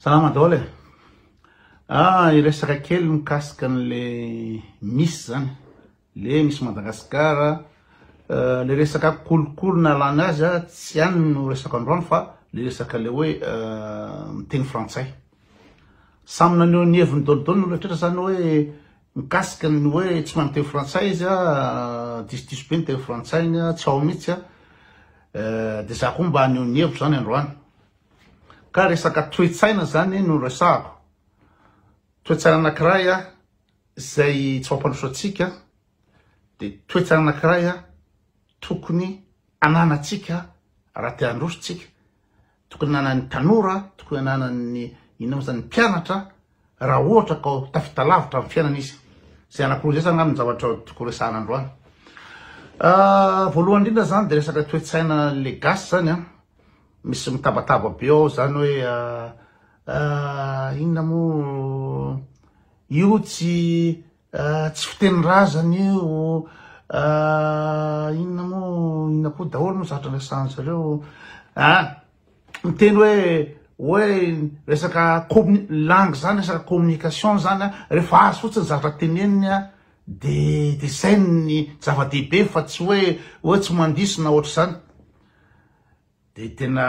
Salama daholo e. Ah, hiresaka kely mikasika an'le misy zany. Le misy Madagascar, euh, le resaka kolikoly nalana azy a, tsy any no resaka androany fa le resaka le hoe euh, miteny frantsay. Samy naneho ny heviny dolidoly ny rehetra zany hoe mikasika ny hoe tsy mahay miteny frantsay izy a, euh, disodiso be ny teny frantsay ny a, tsy ao mihitsy a. Euh, de za koa mba haneho ny hevitro zany androany. Ka resaka toe-tsaina izany no resahako. Toe-tsaina anankiray izay tsy mampandroso antsika dia toe-tsaina anankiray tokony ananantsika raha te handroso isika. Tokony ananan'ny tanora, tokony ananan'ny inona moa izany, ny mpianatra Raha ohatra ka tafita lavitra amin'ny fiainana izy, izay anankiroa izay izany angamba no zavatra tokony horesahana androany. Voalohany indrindra izany dia resaka toe-tsaina le gasy izany an, misy mitabataba be ao izany hoe inona moa io tsy Tsy fiteny razana io, inona moa, inona koa daholo moa zatra resahan zareo a, miteny hoe hoe resaka commu- langue zany resaka communication zany a, rehefa azy fotsiny zatra teneniny a de de zay ny zava-dehibe fa tsy hoe hoe tsy mandiso na ohatr'izany. Dia tena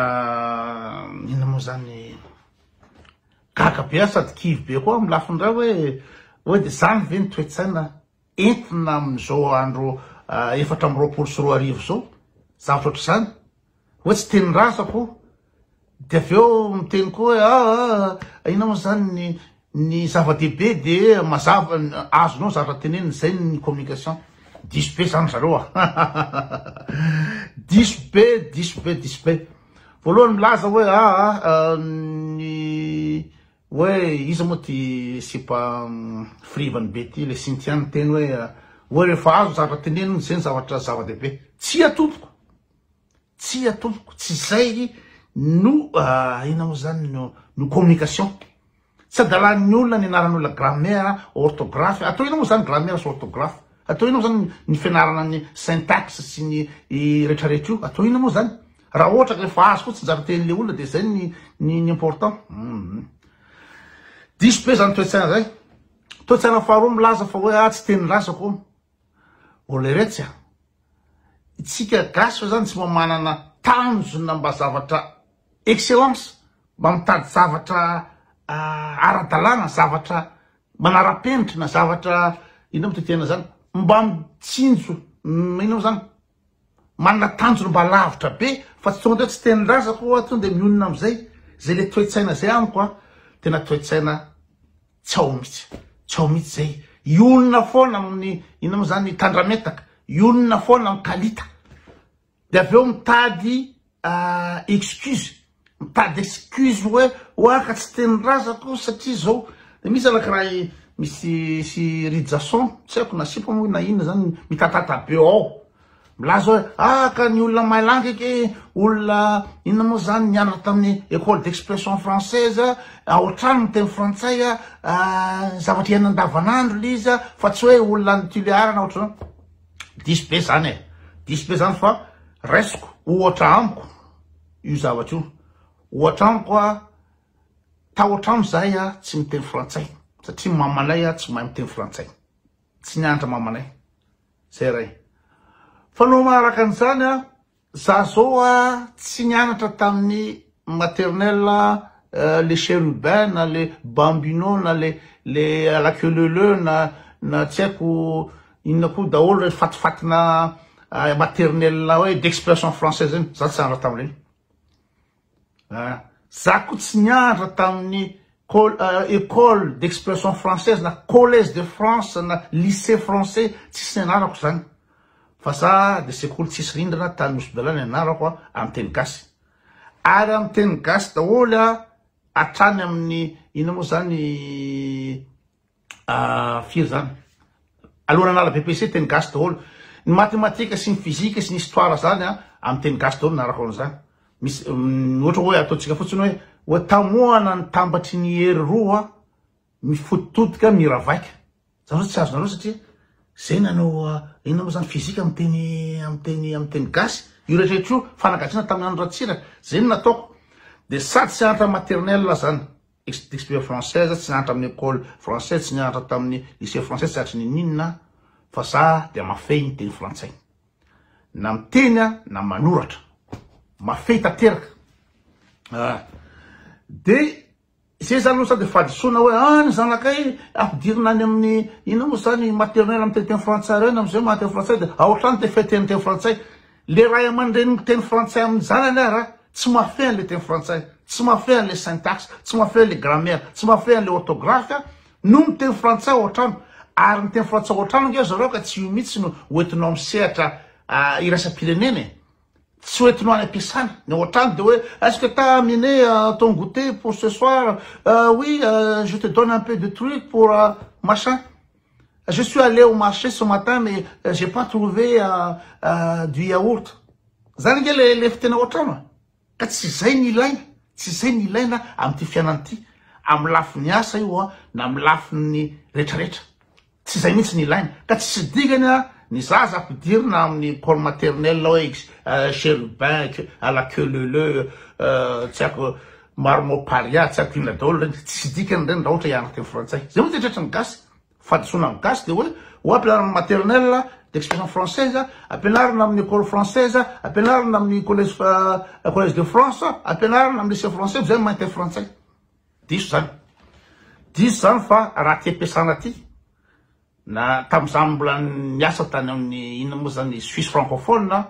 inona moa zany gaga be aho sady kivy be koa amin'ny lafiny iray hoe hoe dia izany ve ny toe-tsaina entina amin'izao andro ah, efatra amby roapolo sy roa arivo izao zavatra ohatr'izany hoe tsy teny razako dia avy eo miteny koa hoe ah, ah, ah, inona moa zany ny Ny zava-dehibe dia mazava azonao zatra tenenina zay ny communication diso be zany zareo a diso be diso be diso be voalohany milaza hoe a ah, ah, ah, ny hoe iza moa ty sipa mm, frivany be ty le sintiany teny hoe hoe rehefa azo zatra tenenina zay ny zavatra zava-dehibe tsy atompoko Tsia tompoko, tsy izay no inona moa izany no communication. Tsy adalan'ny olona ny anaran'ny olona grammaire, orthographe, atao inona moa izany grammaire sy orthographe? Atao inona moa izany ny fianarana ny syntaxe sy ny rehetrarehetra io? Atao inona moa izany? Raha ohatra ka efa azo fotsiny izany tenin'ilay olona dia izay ny ny important. Hum. Diso be izany toe-tsaina izay. Toe-tsaina faharoa milaza fa hoe ahy tsy tenin'ny razako. Olleretsy a! Itsika gasy fa zany tsy mba manana tanjona mba zavatra excellence, mba mitady zavatra ara-dalàna, zavatra manara-penitra na zavatra inona moa ty tena zany? Mba mitsinjo inona moa zany? Manana tanjony mba lavitra be fa tsy tonga de hoe tsy tenin-drazako aho aho tonga de mionona am'zay. Zay le toe-tsaina zay amiko a, tena toe-tsaina tsy ao mihitsy, tsy ao mihitsy zay. Hionona foana amin'ny inona moa zany, tandrametaka, hionona foana amin'ny kalita. De avy eo mitady excuse Pas d'excuse hoe hoa ka tsy teny razako satria zao de misy zalaky raha i misy sy Rijason tsy haiko na sipa moa na inona zany mitatata be ao milaza hoe ah ka ny olona mailangy ake olona inona moa zany nianatra tamin'ny école d'expression française ao an-trano ny teny frantsay ah, zavatra iainana andavanandro le izy fa tsy hoe olona any Tulear na ohatran'izany diso be zany e diso be zany fa raisiko ohatra amiko io zavatra io. Ohatra amiko a, tahotra aho izahay a, tsy miteny frantsay satria mamanay a tsy mahay miteny frantsay, tsy nianatra mamanay, zay iray. Fa no maharaka an'izany a, za zao a tsy nianatra tamin'ny maternelle a, euh, le chérubin na le bambino na le le à la queue leu leu na na tsy haiko, Inona koa daholo reny fatifatina maternelle hoe d'expression française reny, za tsy nianatra tamin'ireny. Ah, za koa tsy nianatra tamin'ny euh, école d'expression française na collège de France na lycée français tsisy nianarako zany. Fa za de sekoly tsisy rindrina tany Nosy-Bela ny anarako amin'ny teny gasy. Ary amin'ny teny gasy daholo hatrany amin'ny ina moa zany Ah, firy zany? Aleo nanala BPC teny gasy daholo. Ny matematika sy ny fizika sy ny histoire zany a, amin'ny teny gasy daholo narako an'izany. Misy mm, ohatra hoe ataontsika fotsiny hoe hoe tamohana ny tambatry ny hery roa mifototodika miravaika. Zany hoe tsy azonareo satria zay nanao ah, inona moa zany fizika amin'ny teny amin'ny teny amin'ny teny gasy. Io rehetrarehetra io fanagatsiana tamin'ny andro ratsiraka. Zay no nataoko. Dia sady seantra maternelle zany. Explique française tsy nianatra amin'ny ecole française tsy nianatra tamin'ny lycée français tsy hatry ny n'inona aho fa za dia mafey ny teny frantsay na miteny aho na manoratra mafey tanteraka ah de zay zany aloha sady fahadisoana hoe ah ny zanakay ampidirina any amin'ny inona moa zany maternelle amin'ny teny frantsay ireny amin'izay mahateny frantsay dia aotrany dia feteny teny frantsay Le ray aman-dreny miteny frantsay amin'ny zanany ara tsy mahafehy an'le teny frantsay, tsy mahafehy an'le syntaxe, tsy mahafehy an'le grammaire, tsy mahafehy an'le orthographe a, no miteny frantsay ao an-trano. Ary miteny frantsay ao an-trano ange zareo ka tsy io mihitsy no ho entinao amin'ny sehatra iraisam-pirenena e. Tsy ho entinao any am-piasana. Ny ao an-trano dia hoe est-ce que t'as amené ton goûter pour ce soir? Oui, je te donne un peu de truc pour machin. Je suis allé au marché ce matin mais j'ai pas trouvé du yaourt. Zany ange le lefy tena ao an-trano a! Ka tsy izay no ilaina, tsy izay no ilaina amin'ity fiainana ity, amin'ny lafiny asa io an, na amin'ny lafiny retraretra. Tsy izay mihitsy no ilaina. Ka tsisy dikany an, ny zaza ampidirina amin'ny école maternelle hoe cherubin à la queue leu leu, tsy haiko, Maro mao paria tsy ampina daolo reny tsy dikany reny ra ohatra hianatra teny frantsay zay mihitsy tretry ny gasy fadisoana am gasy de oe oa ampianarina am maternelle d'expression française ampianarina aminy ecole française ampianarina aminy collège collège de france ampianarina am lycee français fa zay mahay miteny frantsay diso zany diso zany fa ra ty ampiasana ty na tamzany mbola niasa tany aminy inona mo zany suisse francophone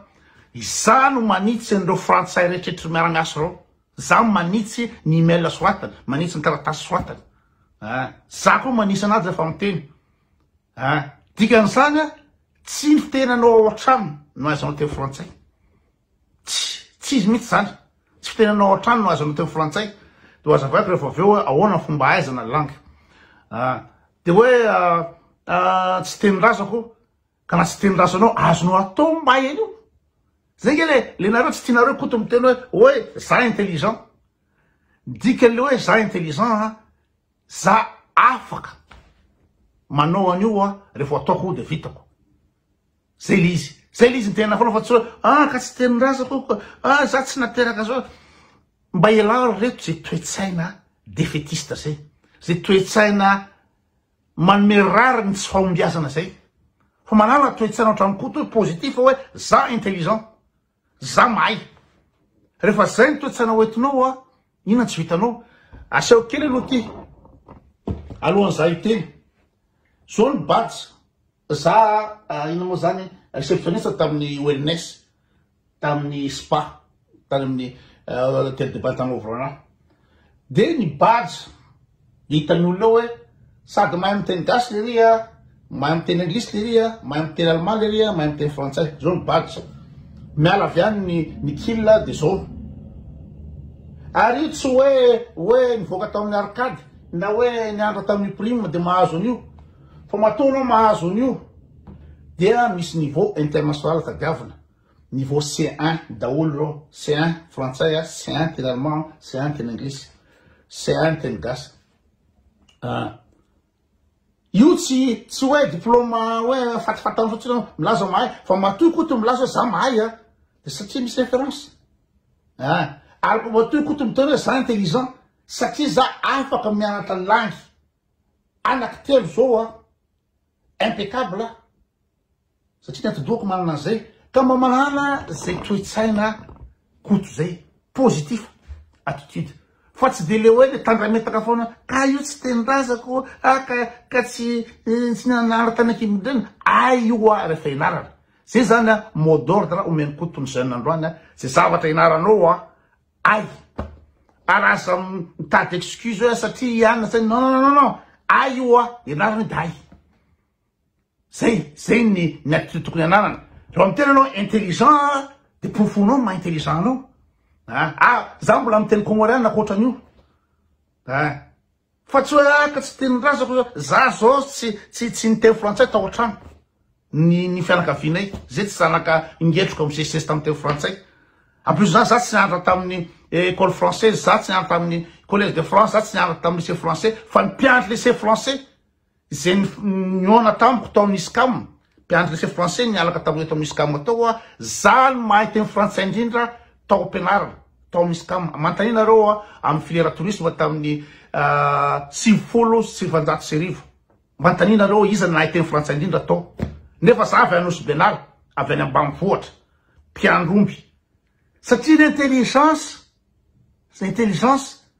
izany no manitsy anreo frantsay rehetretra miara miasa reo Za manitsy ny email soratany, manitsy ny taratasy soratany ah, za koa manisa anazy rehefa miteny ah, dikan'izany ah, tsy ny fitenanao ao an-trano no ahaizanao teny frantsay, tsy, tsy izy mihitsy zany, tsy fitenanao ao an-trano no ahaizanao teny frantsay, de hazavaiko rehefa avy eo hoe ahoana ny fomba ahaizana langue ah, de hoe ah, ah, tsy tenin-drazako, Ka raha tsy tendrasanao azonao atao ny mba en'io. Zay nge le le nareo tsy tianareo koto miteny hoe oe za intelligent. Ny dikan'le hoe za intelligent a za afaka manao an'io a refa ho ataoko io de vitako. Zay le izy. Zay le izy ny tenenao foana fa tsy hoe ah ka tsy tenindrazako io ah za tsy nateraka zao. Mba ialao ry reto ze toe-tsaina defetiste zay. Ze toe-tsaina Manome rariny tsy fahombiazana zay. Fa manala toetsaina ohatran'i Koto hoe positif hoe za intelligent. Za mahay. Rehefa zay ny toetsaina ho entinao a, inona tsy vitanao. Aseho kely aloha ty alohan'ny za hiteny. Zao ny badge za inona moa zany receptionniste tamin'ny ONS. tamin'ny spa tany amin'ny Hotel de Bata Movrona dia ny badge hitan'ny olona ao hoe sady mahay miteny gasy lery a, mahay miteny anglisy lery a, mahay miteny allemand lery a, mahay miteny frantsay, zao ny badge. Miala avy any ny ny kila dia zao. Ary io tsy hoe hoe nivoaka tamin'ny arcade na hoe niandra tamin'ny prime dia mahazo an'io. Fa matoa anao mahazo an'io dia misy niveau international tadiavina, niveau C1 daholo ireo, C1 frantsay, C1 teny allemand, C1 teny anglisy, C1 teny gasy. Ah. Io tsy tsy hoe diplôme hoe fatifatana fotsiny hoe milaza mahay fa matoa koa to milaza hoe za mahay a dia satria misy référence. Ah. Ary matoa koa to miteny hoe za intelligent satria za afaka mianatra langue Anaky telo zao a impeccable a! Satria ny atidohako manana an'izay ka mba manana zay toe-tsaina Koto zay, positif attitude fa tsy de le hoe le tandrametaka foana ka io tsy tenindrazako a ka ka tsy tsy nianara tany ankibonidrena a io a refa ianarana zay zany a mot d'ordre omeny Koto ny jeune androany a ze zavatra ianaranao a Ay! Ary aza mitady excuse hoe satria i Anna zay, non non non non, ay io hoa, ianarana io dia ay. Zay, zay ny ny attitude tokony ananana. Raha miteny anao intelligent dia porofoinao ny maha intelligent anao. Ah, ah, za mbola miteny comoriana ankoatran'io. Ah. Fa tsy hoe ah ka tsy tian'ny razako zao, za zao tsy tsy tsy niteny frantsay tao an-trano, ny ny fianakavianay zay tsy zanaka ingetroka misesisesy tamin'ny teny frantsay, en plus zany za tsy nianatra tamin'ny école française, za tsy nianatra tamin'ny collège de France, za tsy nianatra tamin'ny lycée français, fa ny mpianatra lycée français, Izay nihaona tamiko tao amin'ny Scam, mpiandry lycée français nialaka taminay tao amin'ny Scam tao aho, za no mahay teny frantsay indrindra tao am-pianarana, tao amin'ny Scam. Manontania anareo aho amin'ny filière tourisme tamin'ny sivifolo sy sivanjato sy arivo. Manontania anareo aho iza no nahay teny frantsay indrindra tao. Nefa za avy any Nosy-Benala, avy any ambanivohitra, mpiandry omby. Satria ny intelligence, intelligence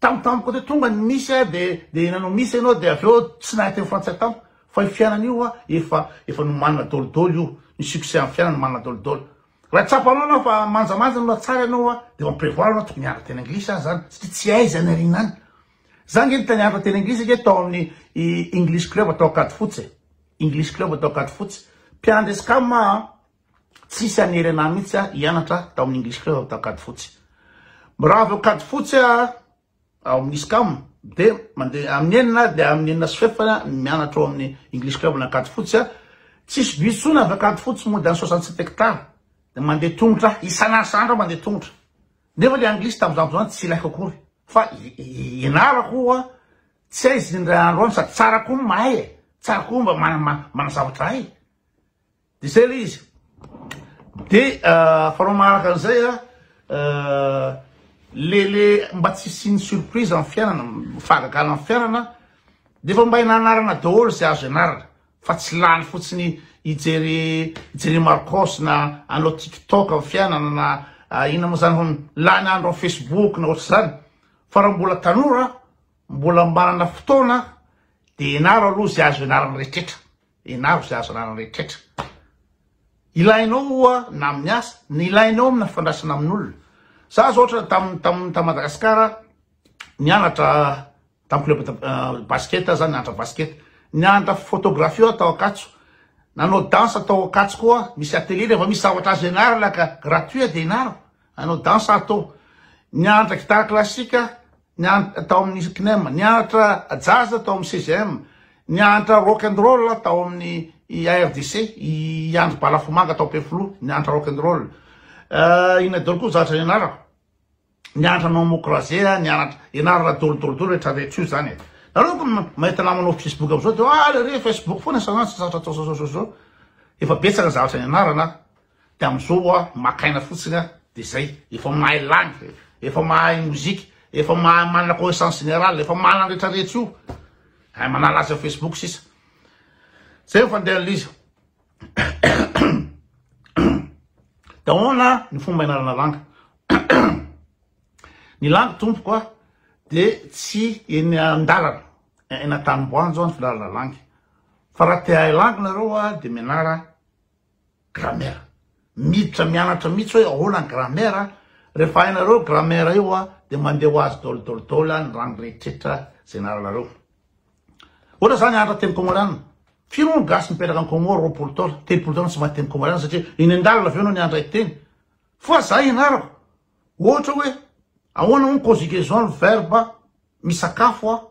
Tampotampoka teo tonga ny misy a de de nanao misy ianao de avy eo tsy nahay teny frantsay tampoka fa io fiainana io a efa efa nomanina daolidaoly io ny succès amin'ny fiainana nomanina daolidaoly raha tsapanao ianao fa manjamanja no tsara ianao a de en prévoir ianao tokony hianatra teny anglisy aza zany satria tsy hay izay nariana any za nge nita nianatra teny anglisy nge tao amin'ny English club atao Ankadifotsy e English club atao Ankadifotsy mpiandry escam a Tsisy hanery anah mihitsy ah hianatra tao amin'ny English Club tao Ankadifotsy. Raha avy ao Ankadifotsy ah ao amin'ny ISCAM dia mandeha amin'ny enina dia amin'ny enina sy fefany mianatra ao amin'ny English Club ny Ankadifotsy ah. Tsisy bus intsony avy Ankadifotsy mody any soixante sept hectares dia mandeha tongotra ah. Isan'asandro ah mandeha tongotra. Nefa ilay Anglisy tamin'izany fotoana izany tsy ilaiko akory fa ianarako ah tsy hay izy indray andro any sady tsara koa ny mahay eh. Tsara koa mba manazavatra hay. Izay ilay izy. Dia fanao manaraka an'izay a, le le mba tsy hisian'ny surprise amin'ny fiainana, fahagagana amin'ny fiainana, dia efa mba hena anarana daholo izay azo ianarana fa tsy lany fotsiny hijery hijery Marcos na hanao TikTok amin'ny fiainana na inona moa izany hono, lany andro amin'ny Facebook na ohatr'izany. Fa raha mbola tanora, mbola manana fotoana dia ianaro aloha izay azo ianarana rehetra. Enaro izay azo ananan'ny rehetrretra. Ilainao oa na amin'ny asa, na ilainao amina fandraisana amin'olona. Za zao ohatra tam tam tam Madagascar nianatra tam club de euh, basket za nianatra basket. Nianatra photographie aho tao Ankatso. Nanao danse tao Ankatso koa, misy atelier rehefa misy zavatra azo ianarana ka gratuit dia ianaro. Hanao danse aho tao. Nianatra guitare classique, tao amin'ny CNEM, nianatra jazz tao amin'ny CGM, nianatra rock and roll tao amin'ny ARDC, i Andry Balafomanga tao Ampefiloha, nianatra rock and roll. Euh, inona daholo koa zatra ianarako? Nianatra non mocrasé, nianatra ianarana daholo daholo daholo rehetra rehetra io zany e. Nareo ko mahita namanao Facebook amizao de ah le re Facebook foana isan'andro tsy zatra atao zao zao zao zao. Efa betsaka zavatra nianarana. De amizao hoa maka aina fotsiny a de zay efa mahay langue efa mahay mozika efa mahay manana connaissance générale efa manana ny retraretra io hay manala azy am facebook sisa zay ny fandehan'ilay izy de ahoana ny fomba ianarana langue ny langue tompoko a de tsy eny andalana eny antanimboanjo ny fianarana langue fa raha te hahay langue nareo a de mianara Grammaire. Miditra mianatra mihitsy hoe ahoana ny grammaire, rehefa hainareo io grammaire io a dia mandeha ho azy dol dol dol ny rano rehetrretra izay nianaranareo. Ohatra izany hianatra teny kômôriana, firy moa ny gasy mipetraka any Kômôro roapolo taona, telopolo taona tsy mahay teny kômôriana satria eny an-dalana avy eo ianao ny handray teny. Fa za ianarako ohatra hoe ahoana moa ny conjugaison ny verbe misakafo aho.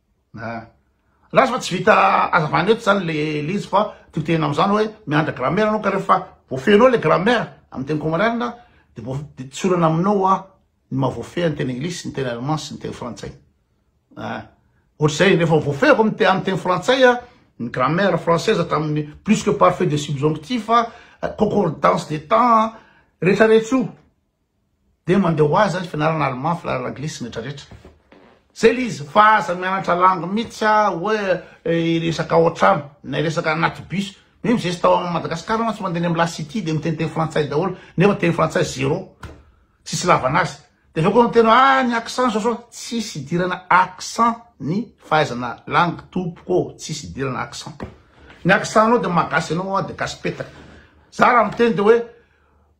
Lasa fa tsy vita azavana eto zany le le izy fa tiako tenena amzany oe mianatra gramera anao ka refa voafehinao le gramera am teny comorianina de voa de tsy olana aminao hoa ny maha voafehy ny teny anglisy ny teny allemand sy ny teny frantsay ah ohatr'zay refa voafehiko am am teny frantsay a ny gramera fransaise hatramin'ny plus que parfait de subjonctif a concordance de temps a retraretra io dia mandeha ho azy ny fianarana allemand, fianarana anglisy, ny retraretra. Zay le izy fa aza mianatra langue mihitsy a hoe hiresaka ao an-trano na hiresaka anaty bus. Même zay tao amin'i Madagasikara mantsy mandeha any amin'ny la city dia miteniteny frantsay daholo nefa teny frantsay zéro, tsisy ilavana azy. Dia avy eo koa miteny hoe ah ny accent zao zao, tsisy idirana accent ny fahaizana langue tompoko ô, tsisy idirana accent. Ny accent-nao dia mahagasy anao dia gasy petaka. Za raha miteny dia hoe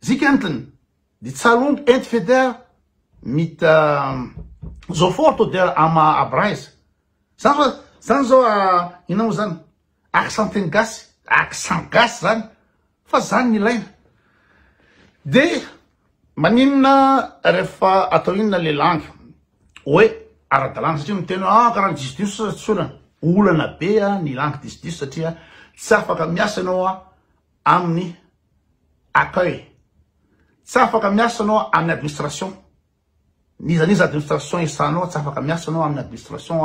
Zikentiny di Tsalund ent Feder mit Sofort oder am Abreiz. Zany zao, zany zao inona moa zany? Accent teny gasy, accent gasy zany fa zany no ilaina. De maninona rehefa atao inona le langue hoe ara-dalàna satria miteny hoe ah karaha ny diso diso sasany tsy olana. Olana be ny langue diso diso satria tsy afaka miasa ianao amin'ny accueil, tsy afaka miasa anao amin'ny administration, n'iza n'iza administration esahanao tsy afaka miasa anao amin'ny administration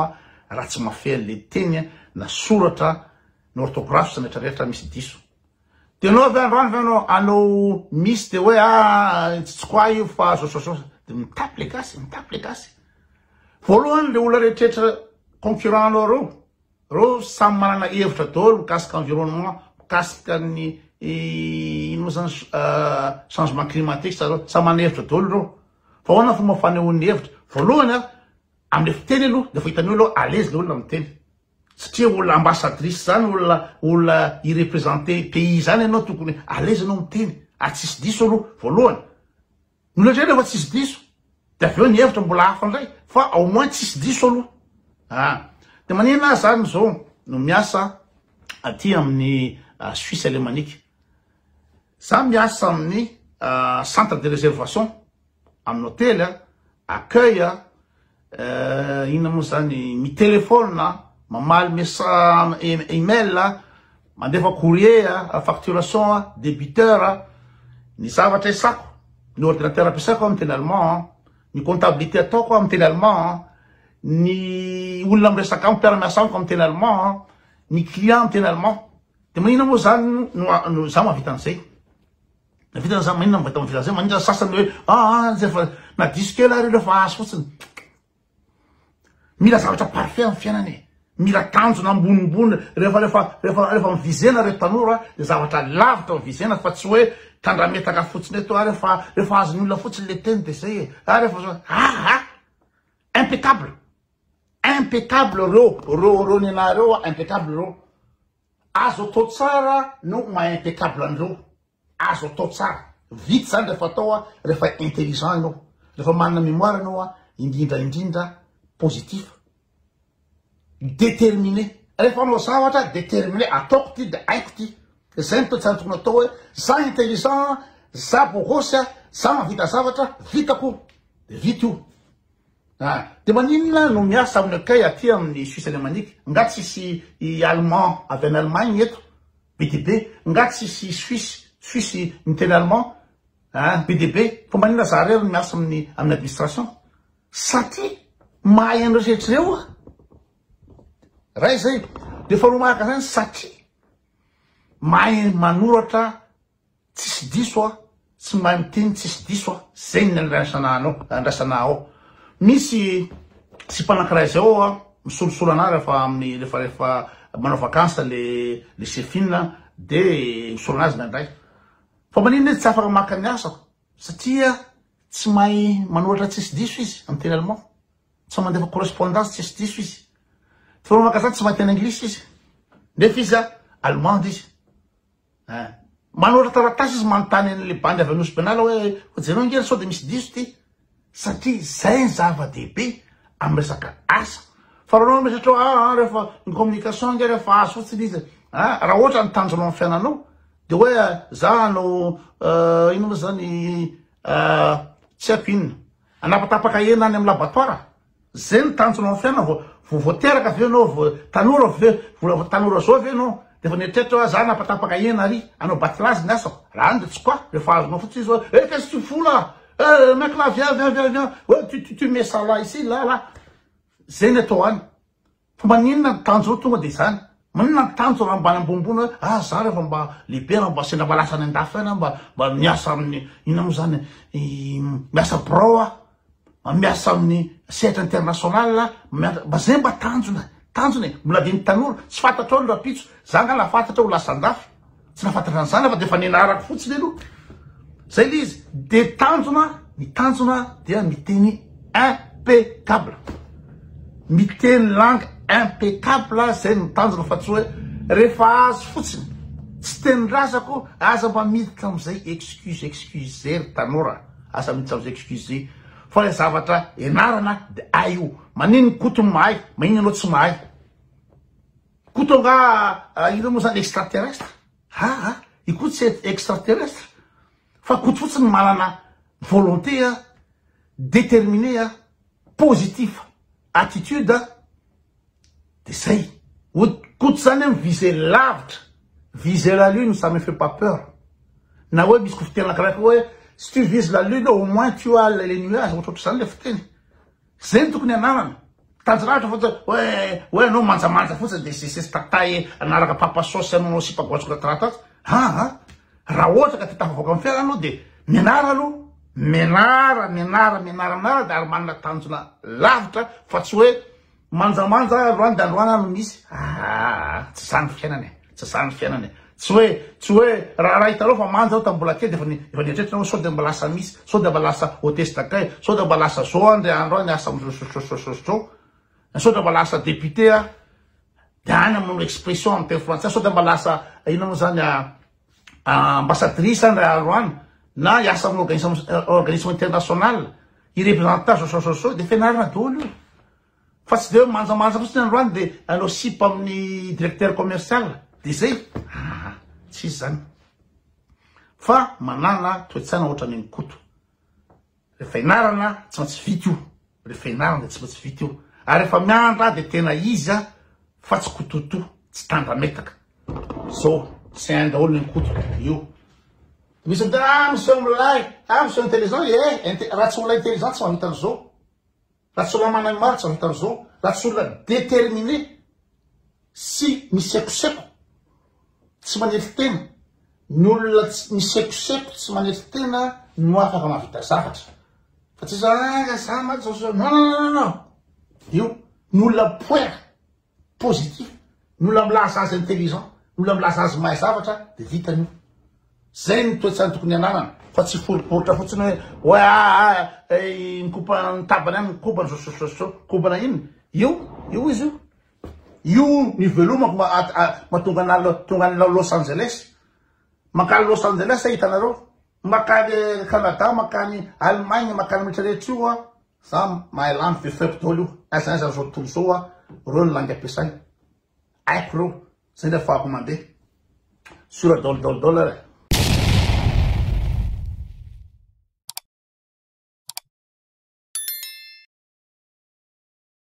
raha tsy mahafehy an'ilay teny na soratra na orthographe sy ny rehetra rehetra misy diso. Dia ianao avy eo androany ve ianao hanao miss dia hoe ah tsy tsy quoi io fa zao zao zao dia mitapy ilay gasy, mitapy ilay gasy. Voalohany ilay olona rehetra rehetra concurrent anao ireo, Reo samy manana hevitra daholo mikasika environnement, mikasika ny ino moa zany changement climatique zareo, samy manana hevitra daholo reo. Fa ahoana ny fomba fanehoany hevitra? Voalohany a, amle fiteny aloha de efa hitany hoe aloha à l'aise le olona miteny. Satria olona ambassadrice zany, olona olona hi representer pays zany enao tokony à l'aise enao miteny ary tsisy diso aloha, voalohany. Nolazaina fa tsisy diso, de avy eo ny hevitra mbola hafa ndray fa au moins tsisy diso aloha ah! de manina ahy zany zao no miasa aty amin'ny Suisse alemanique, za miasa amin'ny centre de reservation, amin'ny hotely, accueil, Eh, inona moa zany mi téléphone mamaly message email mandefa courrier facturation débiteur ny zavatra isako ny ordinateur ampiasako amin'ny teny allemand ny comptabilité ataoko amin'ny teny allemand ny olona miresaka amiko mpiara-miasa amiko amin'ny teny allemand ny client amin'ny teny allemand de manina moa zany no za mahavita an'izay Vita zany maninona mivadika amin'ny filaza maninona sasany hoe aa ah, zay fa na diso kely ary rehefa azo fotsiny mila zavatra parfait amin'ny fiainana e mila tanjona ambonimbony rehefa rehefa rehefa rehefa mivizena reto tanora de zavatra lavitra mivizena fa tsy hoe tandrametaka fotsiny eto ary rehefa rehefa azon'ny olona fotsiny le teny de zay e ary rehefa aa ah, ah, impeccable impeccable reo reo reo nenareo impeccable reo Azo atao tsara no maha impeccable an'ireo, azo atao tsara. Vita izany rehefa atao, rehefa intelligent ianao, rehefa manana mémoire ianao, indrindra indrindra positif. Déterminé. Rehefa hanao zavatra, déterminé, ataoko ity dia haiko ity. Izay no toetsara tokony atao hoe, za intelligent, za bogosy, za mahavita zavatra, vitako, dia vita io. Ah! Dia maninona no miasa amin'ny akay aty amin'ny Suisse Alemanique? Nga tsy hisy i Allemand avy any Allemagne eto? Be dia be! Nga tsy hisy i Suisse, Suisse miteny Allemand? Ah! Be dia be! Fa maninona za irery no miasa amin'ny amin'ny administration? Satria mahay an'ireo sehatra ireo aho. Iray izay. Dia faharoa manaraka an'izany, satria mahay manoratra Tsisy diso aho tsy mahay miteny tsisy diso aho zegny ny andrasananao andrasanao misy sipa anakiray zay ao aho misolosolo anah refa amin'ny refa refa manao vacances le le sefina de misolo anazy ndraindray fa maninona izy tsy afaka maka ny asako satria tsy mahay manoratra tsisy diso izy amin'ny teny allemand tsy mahay mandefa correspondance tsisy diso izy fa manao vacances tsy mahay teny anglisy izy nefa izy a allemande izy Eh. Manora taratasy izy manontany an'ilay bandy avy any Nosy Benala hoe hojereo ange ry sao dia misy diso ity. Satria izay ny zava-dehibe amin'ny resaka asa. Fa raha anao miresatra hoe ah, ah rehefa ny communication ange rehefa azo fotsiny izy. Ah, raha ohatra ny tanjonao amin'ny fiainanao dia hoe ah, za no uh, inona moa zany uh, tsy haiko inona. Anapatapaka hena any amin'ny laboratoire. Zay no tanjonao amin'ny fiainana vao vao vao teraka ve ianao vao tanora ve mbola vao tanora zao ve ianao dia efa nieritreritra hoe za napatapaka hena ary hanao batlazy ny asako raha any dia tsy quoi rehefa azonao fotsiny izy hoe eh qu'est-ce que tu fous là eh mec là viens viens viens viens oh tu tu tu mets ça là ici là là zay ny atao any Fa maninona ny tanjona ao tonga dia izany? Maninona ny tanjona raha mba any ambonimbony hoe ah za rehefa mba lehibe raha mba sendra mba lasa any andafy any aho mba miasa amin'ny inona moa izany miasa birao aho mba miasa amin'ny sehatra international aho mba izay mba tanjona tanjona e mbola adin'ny tanora tsy fantatrao ny rahampitso za angaha naha fantatra aho ho lasa andafy Tsy nahafantatrany zany aho fa dia efa nenarako fotsiny aloha. Zay le izy. Dia tanjona, ny tanjona dia miteny impeccable. Miteny langue impeccable zay no tanjona fa tsy hoe rehefa azo fotsiny. Tsy tenin-drazako, aza mba miditra amin'izay excuse excuse ry tanora. Aza miditra amin'izay excuse. Fa ilay zavatra ianarana dia hay io. Manin ny koto no mahay, manin ianao tsy mahay. Koto nga ireo moa zany extraterrestre? Haa i Koto tsy extraterrestre fa Koto fotsiny manana volonté a, déterminé a, positif attitude a, de zay. Koto zany a mi-vise lavitra, vise la lune ça me fait pas peur. Na hoe misy kofiteny anankiray koa hoe si tu vises la lune au moins tu as les nuages, ohatrohatrizany le fiteny. Zay no tokony ananana. Tanjy lahatra fa hoe hoe anao manjamanja fotsiny de sesesy tataye anaraka papa sosy ananao sipa goatsy korataratasy. Haa raha ohatra ka te tafavoaka amin'ny fiainana anao de mianara aloha. Mianara, mianara, mianara, mianara de ary manana tanjona lavitra fa tsy hoe manjamanja androany de androany ary no misy. Haa tsy zany ny fiainana e. Tsy zany fiainana e. Tsy hoe tsy hoe raharaha hitanao fa manja aho tamin'ny mbola kely dia efa ni- efa nieritreritrana hoe sao dia mba lasa misy, sao dia mba lasa hôtesse d'accueil, sao dia mba lasa zao aho ndray andro aho niasa amin'izao zao zao zao zao zao. Na sao dia mba lasa député aho. Dia any amin'ny expression amin'ny teny frantsay sao dia mba lasa inona moa zany a ambassadrice aho ndray andro any na hiasa amin'ny organisme organisme international hirepresenter zao zao zao zao dia fianarana daholo io. Fa tsy dia hoe manjamanja fotsiny androany dia nanao sipa amin'ny directeur commercial dia zay ah tsisy zany fa manana toetsana ohatran'ny an'i Koto rehefa enarana tsy maintsy vita io rehefa enarana dia tsy maintsy vita io ary rehefa miandra dia tena izy ah fa tsy kototo tsy tandrametaka zao tsy hainy daholo ny Koto io misy miteny ah miseho milay ah miseho intelligent eh raha tsy olona intelligent tsy mahavita an'izao Raha tsy olona managny maritra ny Tarzan, raha tsy olona determiné sy misekoseko tsy manetry tena, ny olona tsy misekoseko tsy manetry tena no afaka mahavita zavatra fa tsy za, za mantsy, non non non non non, io ny olona poera. positif ny olona milaza azy intelligent ny olona milaza azy mahay zavatra de vitany io zay ny toetsany tokony ananana fa tsy foriporitra fotsiny hoe oe aa eh, nikopa ny tabany any nikopa ny sosososo kobana iny io io izy io io ny velomako matonga na tonga any Los Angeles mankany Los Angeles hitanareo Makany Canada, makany Allemagne, makany rehetra rehetra io a, za mahay lany vy faible daholo io, aiza aiza zao tontolo zao a, reo ny langue ampiasainy, haiko reo, zay ny afahako mandeha, sur daholo daholo daholo ary e.